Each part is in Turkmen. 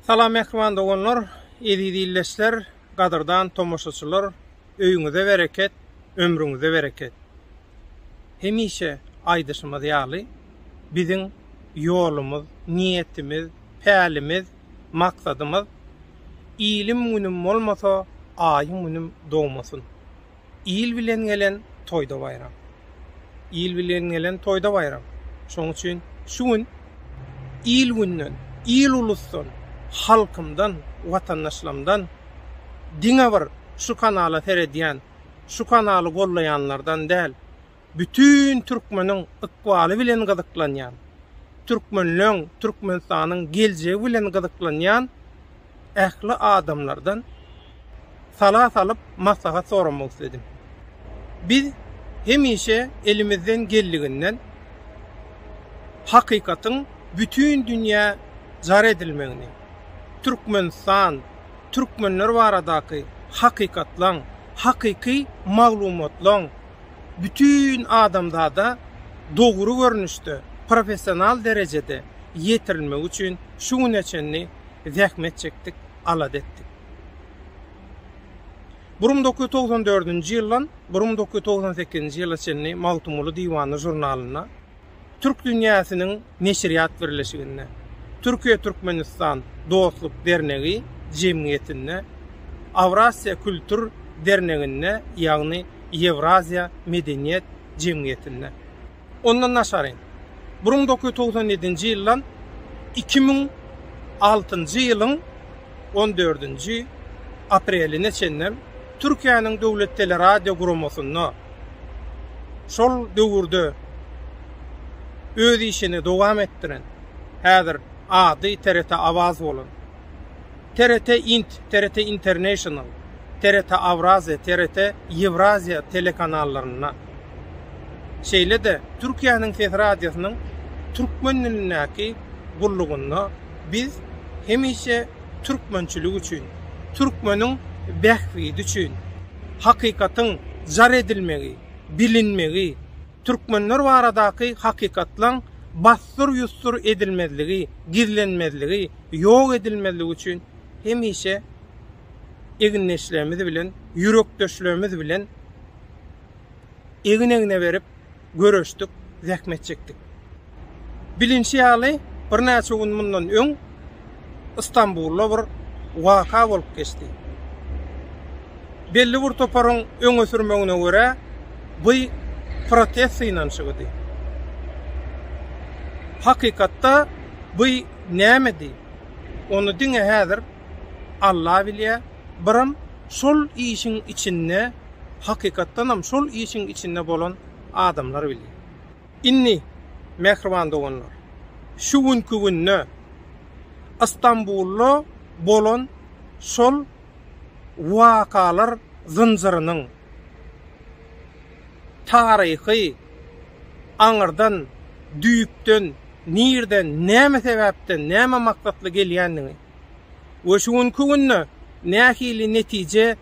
Salam mähriban doganlar, eziz ildeşler, gadyrdan tomaşaçylar, öýüňize bereket, ömrüňize bereket. Hemişe aýdyşymyz ýaly, biziň ýolumyz, niýetimiz, pälimiz, maksadymyz, Ilim günüm bolmasa, aýyň günüm dogmasyn. Il bilen gelen toýda baýram. Il bilen gelen toýda baýram. Şonuň üçin şu gün il günden, il-ulusdan, halkymdan, watandaşlarymdan diňe bir şu kanala seredýän, şu kanaly gollaýanlardan däl, bütin türkmeniň ykbaly bilen gyzyklanýan, türkmenleň, Türkmenistanyň geljegi bilen gyzyklanýan ähli adamlardan sala salyp maslahat soramak isledim. Biz hemişe elimizden geldiginden hakykatyň bütin dünýä jar edilmegini, Türkmenistan, türkmenler baradaky hakykatlaň, hakyky maglumatlaň, bütin adamzada dogry görnüşde, professional derejede ýetirilmegi üçin şu güne çenli zähmet çekdik, alada etdik. Bir müň dokuz ýüz togsan dördünji ýyldan bir müň dokuz ýüz togsan sekizinji ýyla çenli Magtymguly diwany žurnalynda Türk dünýäsiniň neşirýat birleşiginde, Türkiýe-Türkmenistan dostluk dernegi jemgyýetinde, Awrasiýa kültur derneginde ýagny Ýewraziýa medeniýet jemgyýetinde. Ondan daşary, burun dokuz ýüz togsan ýedinji ýyldan iki müň altynjy ýylyň on dördünji apreline çenli Türkiýäniň döwlet teleradiogurumasynda şol döwürde öz işini dowam etdiren, häzir ady TRT Awaz bolan, TRT int, TRT International, TRT Awraziýa, TRT Ýewraziýa telekanallarynda, şeýle-de Türkiýäniň ses radiosynyň türkmen dilindäki gullugynda, Biz hemişe türkmençilik üçin, türkmeniň bähbidi üçin, hakykatyň jar edilmegi, bilinmegi, türkmenler baradaky hakykatlaň bassyr-ýussur edilmezligi, gizlenmezligi, ýok edilmezligi üçin hemişe egindeşlerimiz bilen, ýürekdeşlerimiz bilen, egin-egne berip göreşdik, zähmet çekdik. Bilinşi ýaly, birnäçe gün mundan öň Istanbulda bir waka bolup geçdi. Belli bir toparyň öňe sürmegine görä, bu protest synanyşygydy. Hakykatda bu nämedi? Ony diňe häzir Alla bilýär. Biram şol işiň içinde hakykatdanam şol işiň içinde bolan adamlar bilýär. Indi, mähriban doganlar, şu günki günde Ystambulda bolan şol wakalar zynjyrynyň taryhy aňyrdan, düýpden, nirden, näme sebäpden, näme maksatly gelýändigini we şu günki günde nähili netije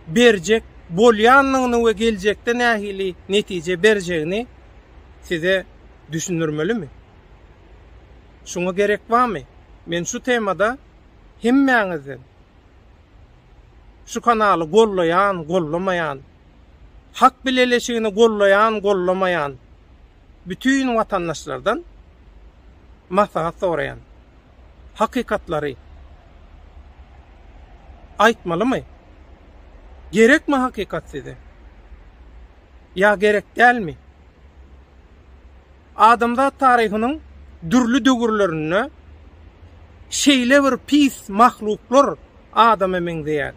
berjek bolýandygyny we geljekde nähili netije berjegini size düşündirmelimi? Şuňa gerek barmy? Men şu temada hemmäňizden şu kanaly gollaýan, gollamaýan, hak bileleşigini gollaýan, gollamaýan bütin watandaşlardan maslahat soraýan. hakykatlary aýtmalymy? Gerekmi hakykat size? Ýa gerek dälmi? Adamzat taryhynyň dürli döwürlerinde şeýle bir pis mahluklar adama meňzeýär.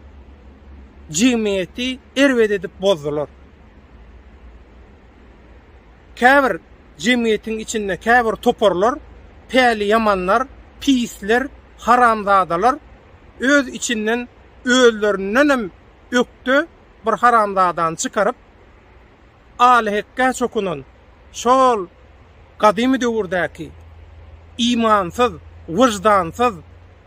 Jemgyýeti erbet edip bozdular. Käbir jemgyýetiň içinde käbir toparlar, päliýamanlar, pisler, haramzadalar öz içinden özlerindenem ökde bir haramzadany çykaryp, alyhekgä çokunan şol gadymy döwürdäki imansyz, wyždansyz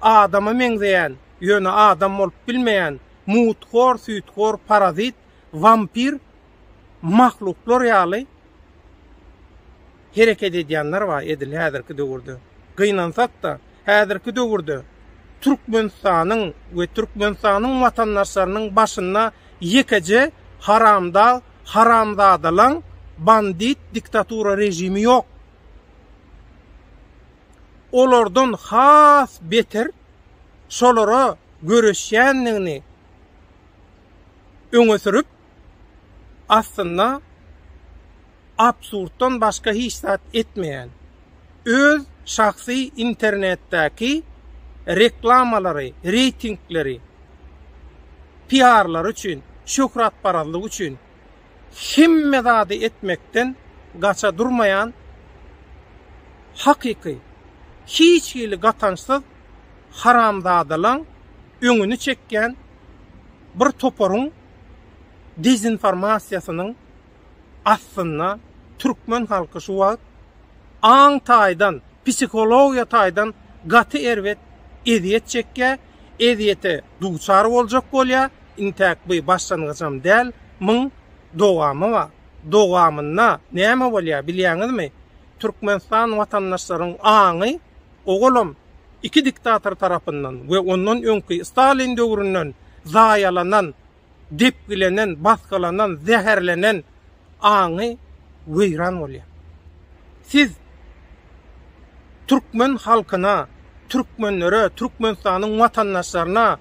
adama meňzeýän, ýöne adam bolup bilmeýän mut-hor, süýthor, parazit, wampir mahluklar ýaly hereket edýänler bar edil häzirki döwürde. Gynansak-da, häzirki döwürde Türkmenistanyň we Türkmenistanyň watandaşlarynyň başynda ýekeje haramdag, haramzadalaň, bandit diktatura režimi ýok. Olardan has beter şolara göreşýändigini öňe sürüp, aslynda absurddan başga hiç zat etmeýän, öz şahsy internetdäki reklamalary, reýtingleri, PR-lary üçin, şöhratparazlygy üçin hemme zady etmekden gaça durmaýan hakyky, hiç hili gatançsyz haramzadalaň öňüni çekýän bir toparyň dezinformasiýasynyň astynda türkmen halky şu wagt aň taýdan, psihologiýa taýdan gaty erbet ezýet çekýär, ezýete duçar boljak bolýar, intäk bu başlangyjam däl, muň dowamy bar. Dowamynda näme bolýar bilýäňizmi? Türkmenistan watandaşlaryň aňy. Owalam, iki diktator tarapyndan we ondan öňki Stalin döwründen zaýalanan, depgilenen, basgylanan, zäherlenen aňy weýran bolýar. Siz türkmen halkyna, türkmenlere, Türkmenistanyň watandaşlaryna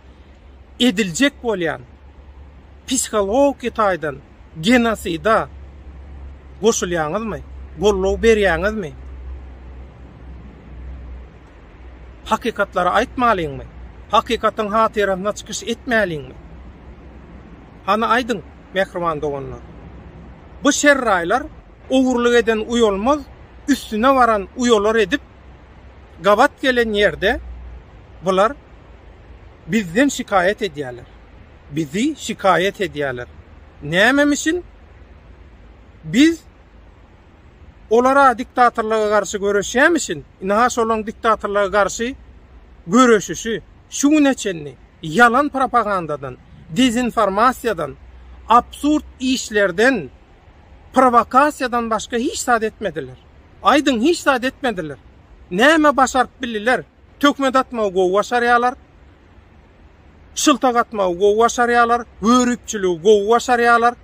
ediljek bolýan psihologiki taýdan, Genosida goşulýaňyzmy? Goldaw berýäňizmi? Hakykatlary aýtmalyňmy? Hakykatyň hatyrasyna çykyş etmäliňmi? Hany aýdyň, mähriban doganlar. Bu şerraýlar ogurlyk eden uýalmaz, üstüne baran uýalar edip, gabat gelen ýerde bular bizden şikaýat edýärler. bizi şikaýat edýärler. Nämemişin? Biz olara diktatorlyga garşy göreşýämişin, ine-ha şolaryň diktatorlyga garşy göreşişi şu güne çenli ýalan propagandadan, dezinformasiýadan, absurd işlerden, prowokasiýadan başga hiç zat etmediler. Aýdyň, hiç zat etmediler. Näme başaryp bildiler? Töhmet atmagy gowy başarýarlar. şyltak atmagy gowy başarýarlar, göripçiligi gowy başarýarlar,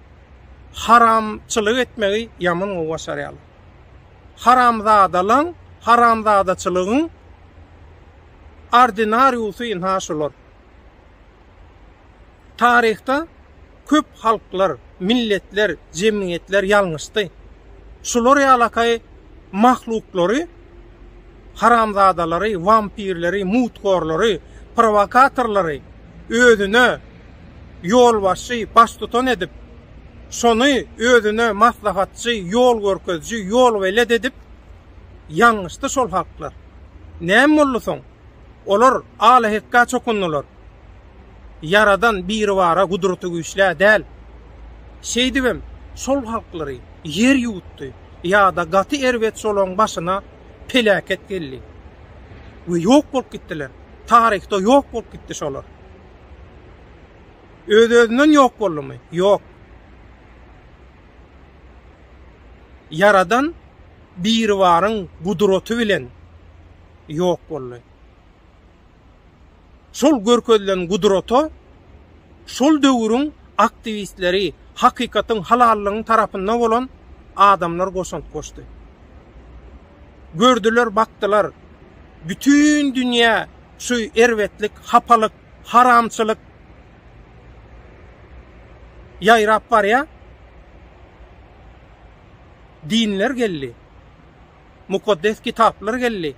haramçylyk etmegi ýaman gowy başarýarlar. Haramzadalaň, haramzadaçylygyň ordinariusy ynha şular. Taryhda köp halklar, milletler, jemgyýetler ýalňyşdy. Şular ýalakaý mahluklary, haramzadalary, wampirleri, muthorlary, prowokatorlary özüne ýolbaşçy, baştutan edip, şony özüne maslahatçy, ýol görkeziji, ýolbelet edip ýalňyşdy şol halklar. Näme boldy soň? Olar alahekga çokundylar. Ýaradan Biribara gudratygüýçlä däl. Şeýdibem, şol halklary ýer ýuwutdy ýa-da gaty erbet şolaryň başyna peläket geldi we ýok bolup gitdiler. Taryhda ýok bolup gitdi şolar. Öz-özünden ýok boldumy? Ýok. Ýaradan Biribaryň gudraty bilen ýok boldy. Şol görkezilen gudrata şol döwrüň aktiwistleri, hakykatyň, halallygyň tarapynda bolan adamlar goşant goşdy. Gördüler, bakdylar, bütin dünýä şu erbetlik, hapalyk, haramçylyk ýaýrap barýar. Dinler geldi. Mukaddes Kitaplar geldi.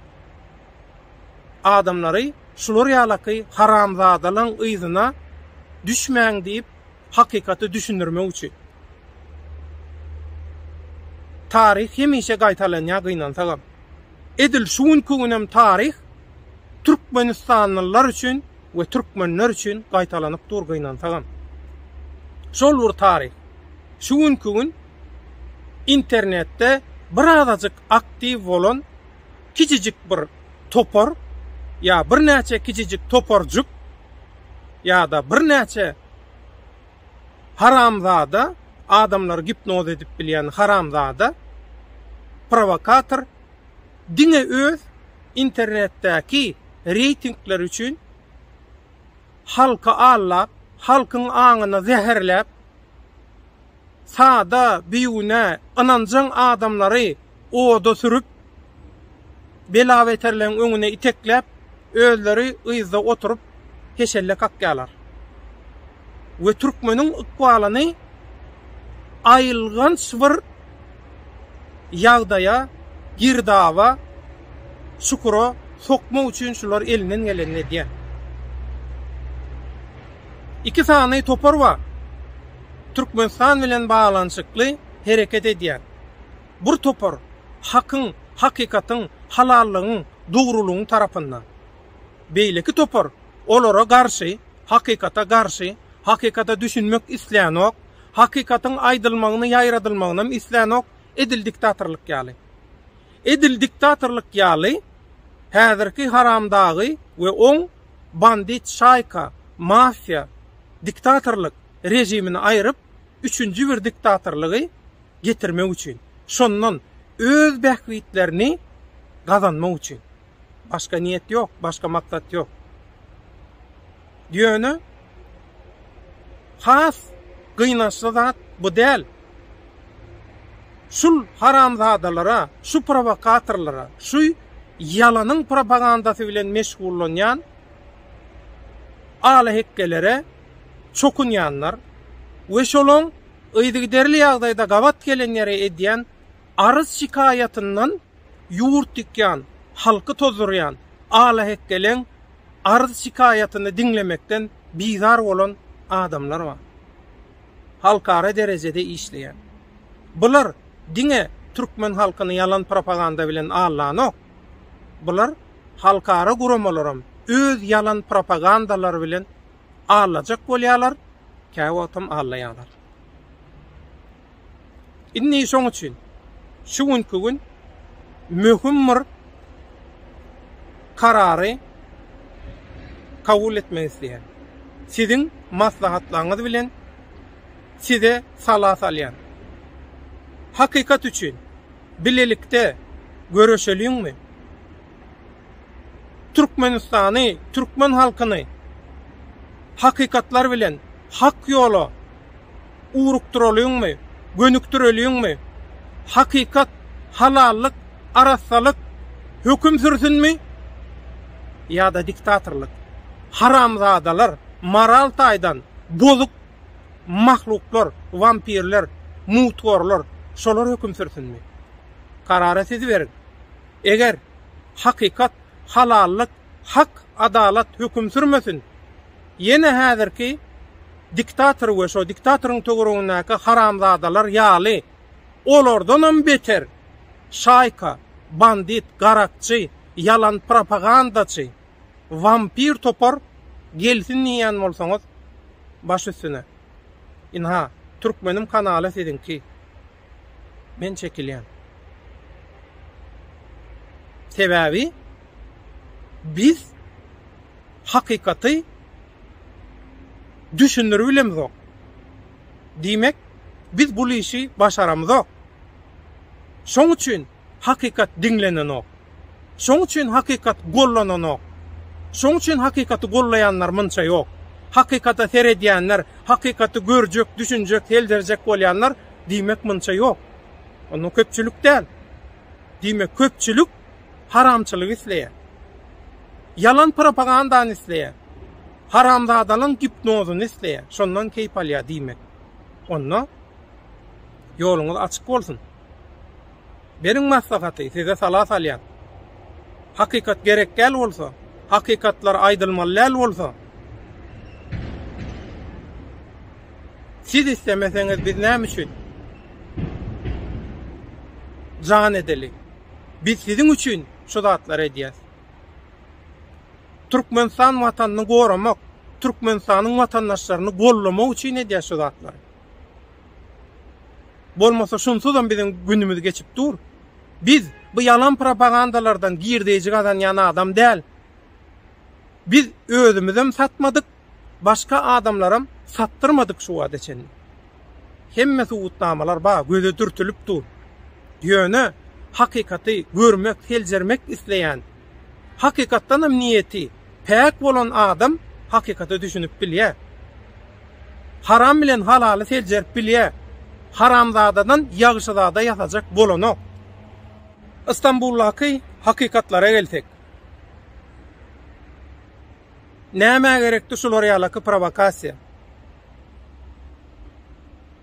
Adamlary şular ýalaky haramzadalaň yzyna düşmäň diýip hakykaty düşündirmek üçin. Taryh hemişe gaýtalanýar gynansagam. Edil şu günki günem taryh Türkmenistanlylar üçin we Türkmenler üçin gaýtalanyp dur gynansagam. Şol bir taryh. Şu günki gün internetde birazajyk aktiw bolan kiçijik bir topar ýa birnäçe kiçijik toparjyk ýa-da birnäçe haramzada, adamlary gipnoz edip bilýän haramzada, prowokator diňe öz internetdäki reýtingleri üçin halky aldap, halkyň aňyny zäherläp, sada, bigünä, ynanjaň adamlary oda sürüp, bela-beterleň öňüne itekläp, özleri yzda oturyp, heşelle kakýarlar we türkmeniň ykbalyny aýylganç bir ýagdaýa, girdaba, çukura sokmak üçin şular elinden gelenini edýär. Iki sany topar bar. Türkmenistan bilen baglanyşykly hereket edýän bir topar hakyň, hakykatyň, halallygyň, dogrulygyň tarapynda. Beýleki topar olara garşy, hakykata garşy, hakykata düşünmek islänok, hakykatyň aýdylmagyny ýaýradylmagynam islänok, edil diktatorlyk ýaly. Edil diktatorlyk ýaly häzirki haramdagy we oň bandit şaýka, mafiýa, diktatorlyk, rejimini aýryp, üçünji bir diktatorlygy getirmek üçin, şondan öz bähbitlerini gazanmak üçin. Başga niýet ýok, başga maksat ýok. Ýöne has gynançly zat bu däl. Şul haramzadalara, şu prowokatorlara, şu ýalanyň propagandasy bilen meşgullanýan alahekgelere çokunýanlar we şolaň yzygiderli ýagdaýda gabat gelenlere edýän arz-şikaýatyndan ýurt ýykýan, halky tozdurýan alahekgeleň arz-şikaýatyny diňlemekden bizar bolan adamlar bar. Halkara derejede işleýär. Bular diňe türkmen halkyny ýalan propaganda bilen aldanok. Bular halkara guramalaram öz ýalan propagandalary bilen allajak bolýarlar, käwagtam allaýarlar. Indi şoň üçin şu günki gün möhüm bir karary kabul etmek isleýän. Siziň maslahatlaryňyz bilen size sala salýan. Hakykat üçin Bilelikde göreşeliňmi? Türkmenistany, türkmen halkyny hakykatlar bilen hak ýola ugrukdyralyňmy, gönükdireliňmi? Hakykat, halallyk, arassalyk höküm sürsünmi? Ýa-da diktatorlyk? Haramzadalar, moral taýdan bozuk. Mahluklar, wampirler, mutgorlar, şolar höküm sürsinmi? Karary siz beriň. Eger hakykat, halallyk, hak, adalat höküm sürmesin, ýene häzirki diktator we şo diktatoryň töweregindäki haramzadalar ýaly, olardanam beter şaýka, bandit, garakçy, ýalan propagandaçy, Wampir topar gelsin diýýän bolsaňyz baş üstüne. Ynha, Türkmenim kanaly siziňki. Men çekilýän. Sebäbi biz hakykaty düşündirip bilemizok. Diýmek, biz bul işi başaramyzok. Şoň üçin hakykat diňlenenok. Şoň üçin hakykat gollananok. Şoň üçin hakykaty gollaýanlar munça ýok. Hakykata seredýänler, hakykaty görjek, düşünjek, seljerjek bolýanlar diýmek munça ýok. Onda köpçülik däl. Diýmek köpçülik haramçylygy isleýär. Ýalan propagandany isleýär. Haramzadalygyň gipnozyny isleýär. Şondan keýp alýar diýmek. Onda ýoluňyz açyk bolsun. Beriň maslahaty, size sala salýan. Hakykat gerek däl bolsa, hakykatlar aýdylmaly däl bolsa, siz islemeseňiz biz näme üçin jan edeli? Biz siziň üçin şu zatlary edýäs. Türkmenistan watanyny goramak, Türkmenistanyň watandaşlaryny gollamak üçin edýäs şu zatlary. Bolmasa şunsuzam biziň günümiz geçip dur. Biz bu ýalan propagandalardan girdeýji gazanýan adam däl. Biz özümizem satmadyk, başga adamlaram satdyrmadyk şu wagta çenli. Hemme subutnamalar bar, göze dürtülip dur. Ýöne hakykaty görmek, seljermek isleýän, hakykatdanam niýeti Päk bolan adam hakykata düşünip bilýär. Haram bilen halaly seljerip bilýär. Haramzadadan ýagşyzada ýasajak bolanok. Istanbuldaky hakykatlara gelsek. Nämä gerekdi şular ýalaky prowokasiýa?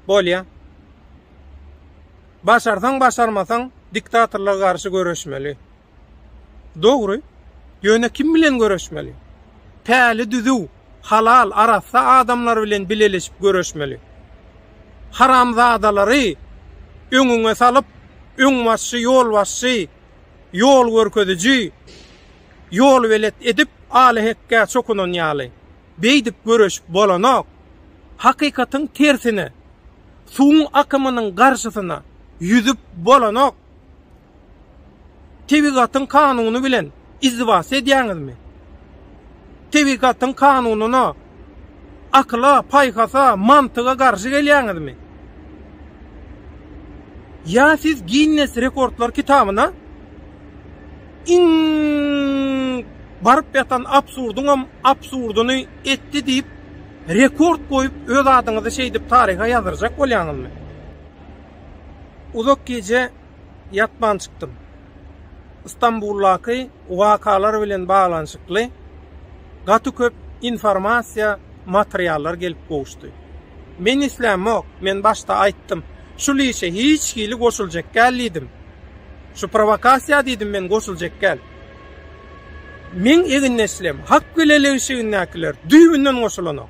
Bolýa. Başarsaň başarmasaň diktatorlar garşy göreşmeli. Dogry. Ýöne kim bilen göreşmeli? Päli düzüw, halal, arassa adamlar bilen bileleşip göreşmeli. Haramzadalary öňüňe salyp, öňbaşçy, ýolbaşçy, ýol görkeziji, ýolbelet edip aly-hekgä çokunan ýaly, beýdip göreşip bolanok. Hakykatyň tersine, suwuň akymynyň garşysyna ýüzüp bolanok. Tebigatyň kanuny bilen izdivas edýäňizmi? Tebigatyň kanunyna, akyla, paýhasa, mantyga garşy gelýäňizmi? Ýa siz Ginnes rekordlar kitabyna iň baryp ýatan absurdyňam absurdyny etdi diýip, rekord goýup, öz adyňyzy şeýdip taryha ýazdyrjak bolýaňyzmy? Uzak gije. ýatman çykdym. Stambuldaky wakalar bilen baglanyşykly gaty köp informasiýa, materiallar gelip gowuşdy. Men islämok, men başda aýtdym, şul işe hiç hili goşuljak gäl diýdim. Şu prowakasiýa diýdim men goşuljak gäl. Meň egindeşlem, hak bileleşigindäkiler düýbünden goşulanok.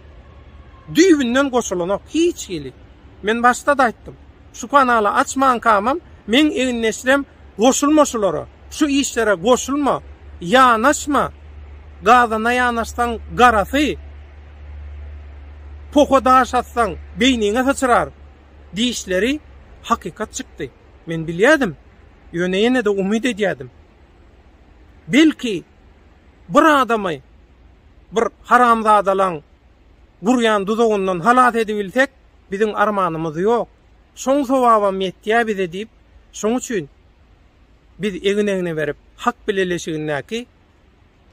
Düýbünden goşulanok hiç hili. Men başda-da aýtdym. Şu kanaly açmankamam meň egin neşirem goşulma şulara şu işlere goşulma ýanaşma gazana ýanaşsaň garasy poha daş atsaň beýniňe syçrar diýişleri hakykat çykdy men bilýädim ýöne ýenede umyt edýädim belki bir adamy bir haramzadalaň gurýan duzagyndan halas edibilsek Biziň armanymyz ýok. Şoň sowabam ýetýä bize diýip, şoň üçin biz egin-egne berip, hak bileleşigindäki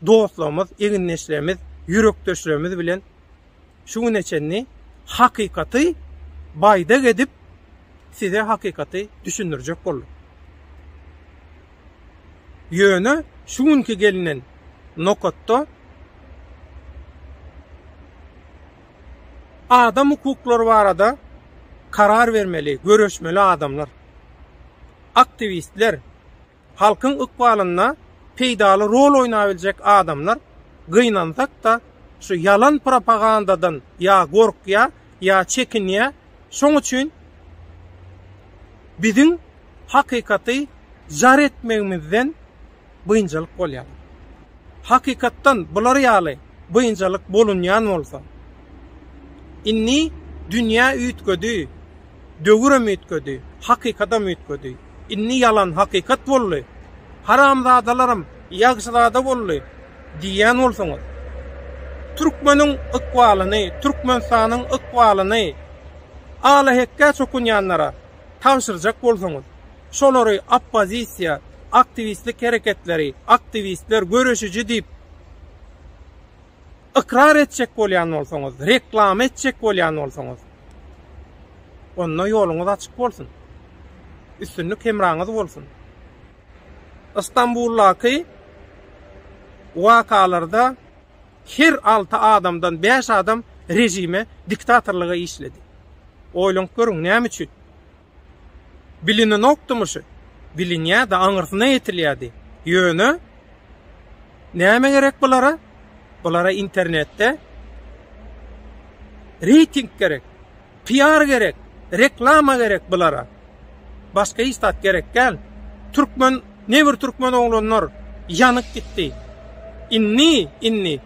dostlarymyz, egindeşlerimiz, ýürekdeşlerimiz bilen şu güne çenli hakykaty baýdak edip, size hakykaty düşündirjek bolduk. Ýöne şu günki gelinen nokatda Adam hukuklary barada karar bermeli, göreşmeli adamlar, aktiwistler, halkyň ykbalynda peýdaly rol oýnabiljek adamlar gynansak-da, şu ýalan propagandadan ýa gorkýa, ýa çekinýä, şoň üçin biziň hakykaty jar etmegimizden, biynjalyk bolýar. Hakykatdan bular ýaly biynjalyk bolunýan bolsa, indi dünýä üýtgedi, döwürem üýtgedi, hakykadam üýtgedi. Indi ýalan hakykat boldy, haramzadalaram ýagşyzada boldy diýýän bolsaňyz, türkmeniň ykbalyny, Türkmenistanyň ykbalyny alahekge çokunýanlara tabşyrjak bolsaňyz, Şolary oppozisiýa, aktiwistlik hereketleri, aktiwistler, göreşiji diýip ykrar etjek bolýan bolsaňyz, reklama etjek bolýan bolsaňyz, onda ýoluňyz açyk bolsun. Üstünlik hemraňyz bolsun. Istanbuldaky wakalarda her altı adamdan beş adam rejime, diktatorlyga işledi. Oýlanyp görüň, näme üçin? Bilinenokdymyşy? Bilinýärdi, aňyrsyna ýetilýärdi. Ýöne, näme gerek bulara? Bulara internetde reýting gerek, PR gerek, reklama gerek bulara. Başga hiç zat gerek däl. Türkmen, ne bir türkmen oglanlar ýanyp gitdi. Indi, indi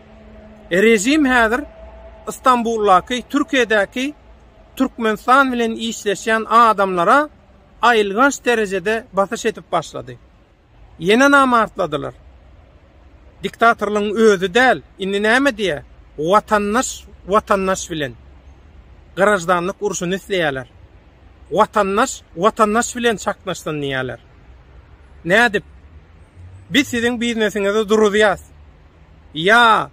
režim häzir Istanbuldaky, Türkiýedäki Türkmenistan bilen işleşýän adamlara aýylganç derejede basyş edip başlady. Ýene namartladylar. Diktatorlygyň özi däl, indi näme diýä, watandaş watandaş bilen graždanlyk urşuny isleýärler. Watandaş watandaş bilen çaknyşsyn diýýärler. Nädip? Biz siziň biznesiňizi duruzýas. Ýa,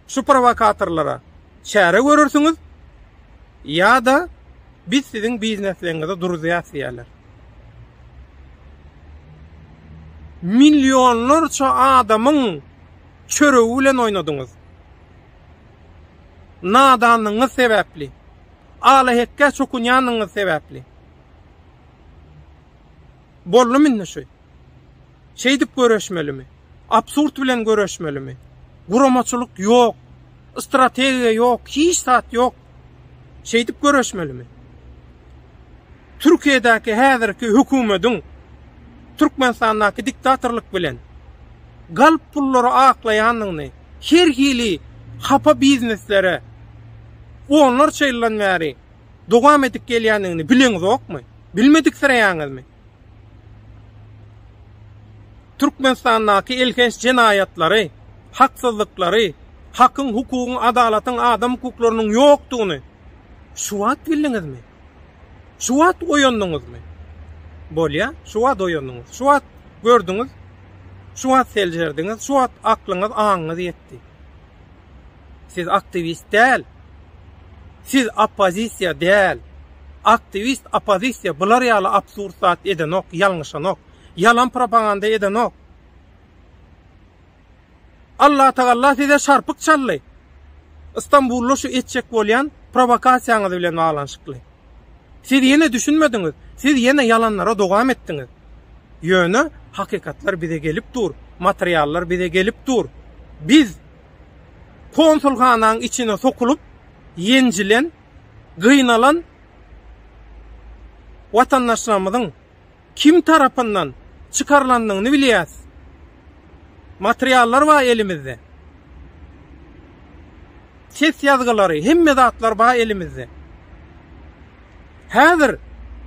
şu prowokatorlara, Çäre görersiňiz ýa-da biz siziň biznesligiňizi duruzýas diýerler. Millionlarça adamyň çöregi bilen oýnadyňyz. Nadanlygyňyz sebäpli, alahekkä çokunýanyňyz sebäpli. Boldumy indi şu? Şeýdip göreşmelimi? Absurd bilen göreşmelimi? Guramaçylyk ýok. Strategiýa ýok, hiç zat ýok. Şeýdip göreşmelimi? Türkiýedäki häzirki hökümediň Türkmenistandaky diktatorlyk bilen galp pullary aklaýandygyny her hili hapa bizneslere onlarça ýyldan bäri dowam edip gelýändigini bileňizokmy? Bilmediksireýäňizmi? Türkmenistandaky elhenç jenaýatlary, haksyzlyklary, hakyň, hukugyň, adalatyň, adam hukuklarynyň ýokdugyny şu wagt bildiňizmi? Şu wagt oýandyňyzmy? Bolýa, şu wagt oýandyňyz, şu wagt gördüňiz, şu wagt seljerdiňiz, şu wagt aklyňyz, aňyňyz ýetdi. Siz aktiwist däl. Siz oppozisiýa däl. Aktiwist, oppozisiýa bular ýaly absurd zat edenok, ýalňyşanok. Ýalan propaganda edenok. Allatagalla size şarpyk çaldy. Istanbulda şu etjek bolýan prowokasiýaňyz bilen baglanyşykly. Siz ýene düşünmediňiz. Siz ýene ýalanlara dowam etdiňiz. Ýöne hakykatlar bize gelip dur. Materiallar bize gelip dur. Biz Konsulhananyň içine sokulyp, ýenjilen, gynalan watandaşlarymyzyň kim tarapyndan çykarylandygyny bilýäs. Materiallar bar elimizde. Ses ýazgylary, hemme zatlar bar elimizde. Häzir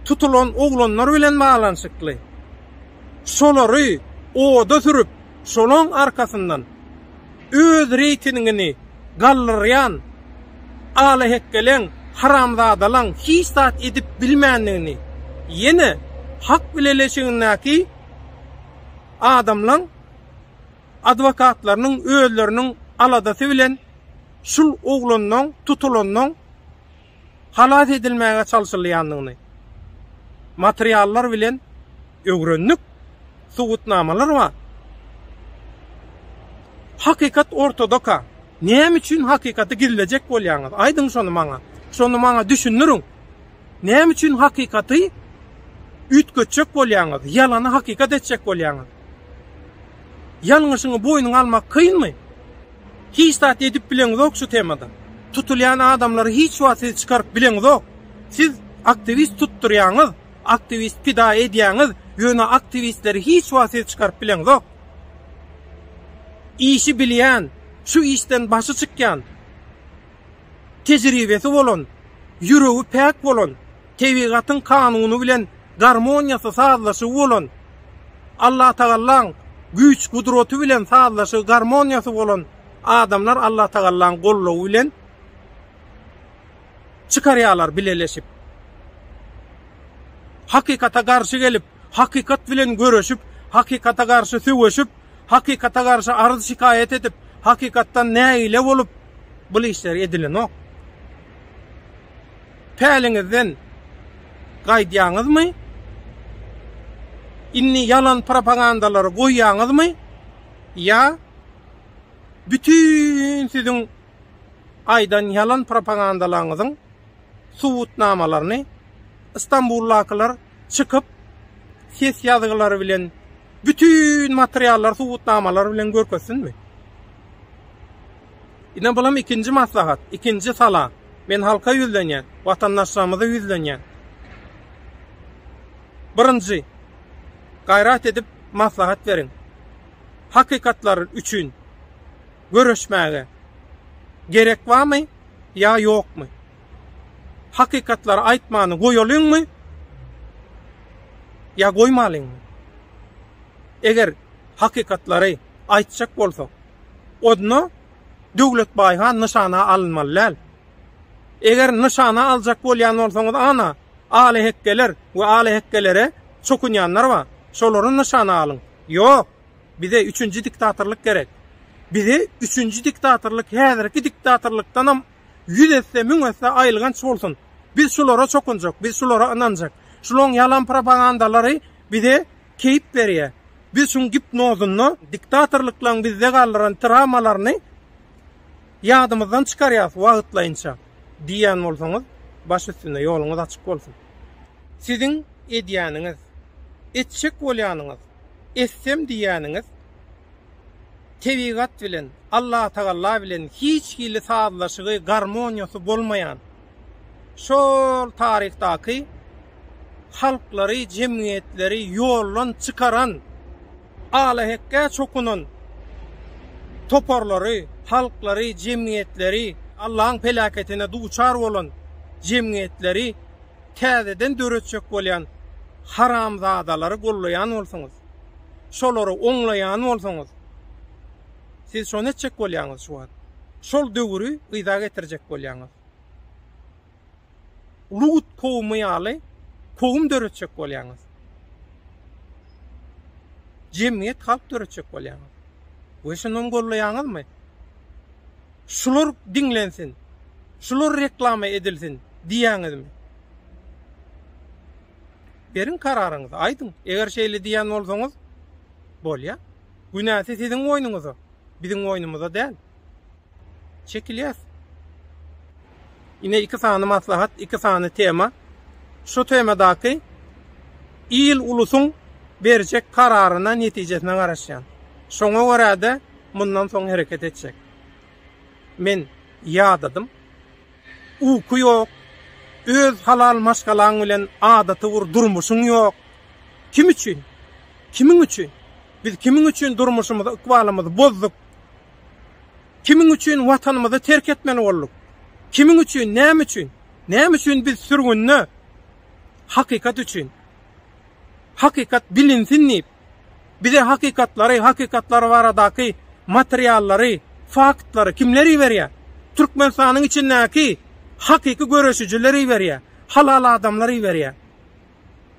tutulan oglanlar bilen baglanyşykly. Şolary oda sürüp, şolaň arkasyndan öz reýtingini galdyrýan alahekgeleň, haramzadalaň hiç zat edip bilmändigini ýene hak bileleşigindäki adamlaň adwokatlarynyň özleriniň aladasy bilen şul oglanlaň tutulanlaň halas edilmäge çalşylýandygyny materiallar bilen öwrendik, subutnamalar bar. Hakykat ortadaka. Näme üçin hakykaty gizlejek bolýaňyz? Aýdyň şony maňa. Şony maňa düşündiriň. Näme üçin hakykaty üýtgetjek bolýaňyz? Ýalany hakykat etjek bolýaňyz? Ýalňyşyňy boýnuňa almak kynmy? Hiç zat edip bileňizok şu temada. Tutulýan adamlary hiç wagt siz çykaryp bileňizok. Siz aktiwist tutdurýaňyz, aktiwist pida edýäňiz, ýöne aktiwistleri hiç wagt siz çykaryp bileňizok. Işi bilýän, şu işden başy çykýan, tejribesi bolan, ýüregi päk bolan, tebigatyň kanuny bilen garmoniýasy, sazlaşygy bolan, Allatagallaň güýç-gudraty bilen sazlaşygy, garmoniýasy bolan adamlar Allatagallaň goldawy bilen çykarýarlar bileleşip. Hakykata garşy gelip, hakykat bilen göreşip, hakykata garşy söweşip, hakykata garşy arz-şikaýat edip, hakykatdan nägile bolup, bul işler edilenok. päliňizden gaýdýaňyzmy? Indi ýalan propagandalary goýýaňyzmy? Ýa bütin siziň aýdan ýalan propagandalaryňyzyň subutnamalaryny Istanbuldakylar çykyp ses ýazgylary bilen bütin materiallar subutnamalar bilen görkezsinmi? Ine bulam ikinji maslahat, ikinji sala. Men halka ýüzlenýän, watandaşlarymyza ýüzlenýän. Birinji, gaýrat edip maslahat beriň. Hakykatlar üçin göreşmäge gerek barmy ýa ýokmy? Hakykatlary aýtmany goýalyňmy ýa goýmalyňmy? Eger hakykatlary aýtjak bolsak, odna Döwletbaý han nyşana alynmaly däl. Eger nyşana aljak bolýan bolsaňyz ana, alyhekgeler we alyhekgelere çokunýanlar bar. Şolary nyşana alyň. Ýok! Bize üçünji diktatorlyk gerek. Bize üçünji diktatorlyk häzirki diktatorlykdanam ýüz esse, müň esse aýylganç bolsun. Biz şulara çokunjak, biz şulara ynanjak. Şularyň ýalan propagandalary bize Keýp berýär. Biz şuň gipnozynda diktatorlyklaryň bizde galdyran trawmalaryny ýadymyzdan çykarýarys wagtlaýynça diýýän bolsaňyz, baş üstüne, ýoluňyz açyk bolsun. Siziň edýäniňiz, etjek bolýanyňyz, etsem diýýäniňiz tebigat bilen, Allatagalla bilen hiç hili sazlaşygy, garmoniýasy bolmaýan şol taryhdaky halklary, jemgyýetleri ýoldan çykaran, alahekge çokunan toparlary, halklary, jemgyýetleri, Allaň pelaketine duçar bolan jemgyýetleri täzeden döretjek bolýan haramzadalary gollaýan bolsaňyz, şolary oňlaýan bolsaňyz, Siz şony etjek bolýaňyz şu wagt. Şol döwüri yza getirjek bolýaňyz. Lut kowumy ýaly kowum döretjek bolýaňyz. Jemgyýet halk döretjek bolýaňyz. We şuny gollaýaňyzmy? Şular diňlensin. Şular reklama edilsin diýýäňizmi? Beriň kararyňyzy, aýdyň. Eger şeýle diýýän bolsaňyz, bolýar. Günäsi siziň boýnuňyza, biziň boýnumyza däl. Çekilýäs. Ine iki sany maslahat, iki sany tema. Şu temadaky il ulusyň berjek kararyna, netijesine garaşýan. Şoňa görä-de mundan soň hereket etjek. Men ýadadym. Uky ýok, öz halal maşgalaň bilen adaty bir durmuşyň ýok. Kim üçin? Kimiň üçin? Biz kimiň üçin durmuşymyzy, ykbalymyzy bozduk? Kimiň üçin Watanymyzy terk etmeli bolduk? Kimiň üçin, näme üçin? Näme üçin biz sürgünde? Hakykat üçin. Hakykat bilinsin diýip. Bize hakykatlary, hakykatlar baradaky materiallary, faktlary kimler iberýär? Türkmenistanyň içindäki hakyky göreşijiler iberýär, halal adamlar iberýär.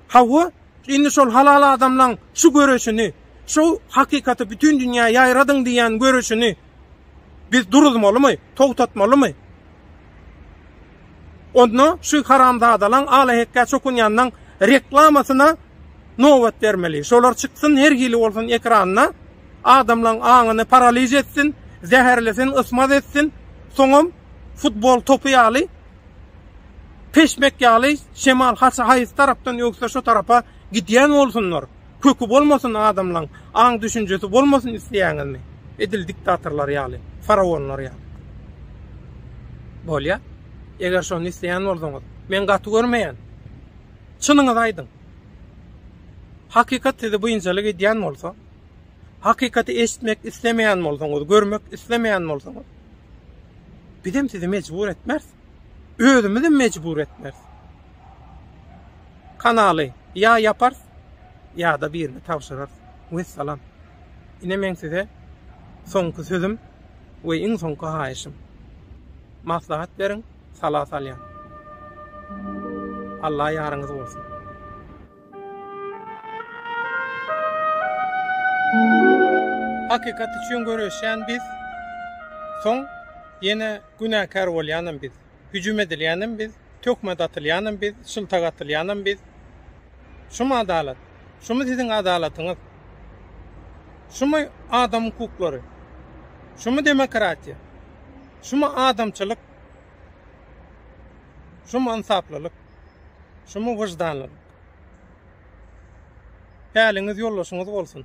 Hawa, indi şol halal adamlaň şu göreşini, şu hakykaty bütin dünýä ýaýradyň diýýän göreşini Biz duruzmalymy, togtatmalymy? Onda şu haramzadalaň alahekkä çokunýanynyň reklamasyna nobat bermeli. Şolar çyksyn her hili bolsun ekranda, adamlaň aňyny paraliž etsin, zäherlesin, ysmaz etsin, soňam futbol topy ýaly, peşmek ýaly şemal haýsy tarapdan öwse şo tarapa gidýän bolsunlar. Köki bolmasyn adamlaň, aň-düşünjesi bolmasyn isleýäňizmi? Edil diktatorlar ýaly, faraonlar ýaly. Bolýa. Eger şony isleýän bolsaňyz. Men gaty görmeýän. Çynyňyzy aýdyň. Hakykat sizi buýunçalyk edýän bolsa, hakykaty eşitmek islemeýän bolsaňyz, görmek islemeýän bolsaňyz, bizem sizi mejbur etmeris. Özümizem mejbur etmeris. Kanaly ýa ýaparys ýada birine tabşyrarys wessalam ine meň size soňky sözüm we iň soňky haýyşym maslahat beriň sala salýan Alla ýaryňyz bolsun. Hakykat üçin göreşýän biz soň ýene günäkär bolýanam biz Hüjüm edilýänem biz, töhmet atylýanam biz, şyltak atylýanam biz. Şumy adalat? Şumy siziň adalatyňyz? Şumy adam hukuklary? Şumy demokratiýa? Şumy adamçylyk? Şumy ynsaplylyk? Şumy wyždanlylyk? Päliňiz ýoldaşyňyz bolsun!